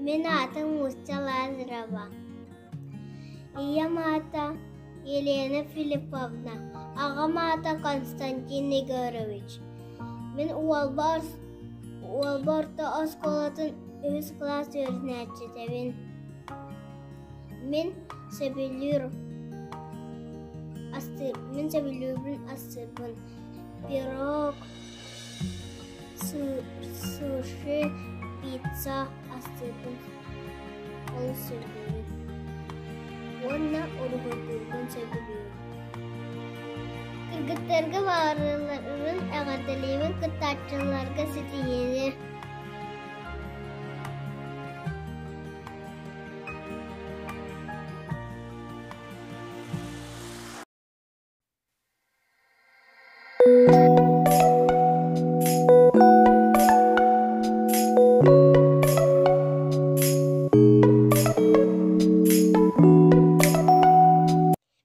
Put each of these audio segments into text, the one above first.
Мин аатым нуучча Лазарева. Ийэм аата Елена Филипповна, аҕам аата Константин Егорович. Мин уолба ос- уолба орто оскуолатын үһүс кылаас үөрэнээччитэбин. Мин сөбүлүүр астыырбын, мин сөбүлүүрбүн астыырбын пирог, Суши пицца астыыбын, олус сөбүлүүбүн уонна уруһуйдуурбун сөбүлүүбүн. Кыргыттарга баарыларын эҕэрдэлиибин, кыттааччыларга ситиһиини.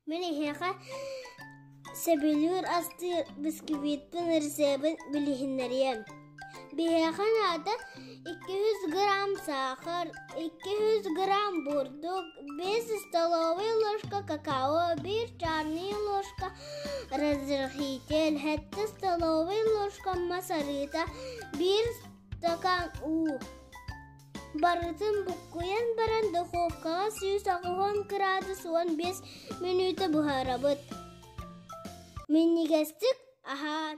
Мин эһиэхэ сөбүлүүр астыы бисквитпын рецебин билиһиннэриэм Биһиэхэ наада икки жүз грамм саахар, икки жүз грамм бурдук, биэс столовая ложка какао, биир чарный ложка разрыхитель, сэттэ столовая ложка масарыта, биир стакан уу. Барытын буккуйан баран духовкаҕа сүүс оҕуһун кыраадыс уон биэс мүнүүтэ буһарабыт. Минньигэстик аһаан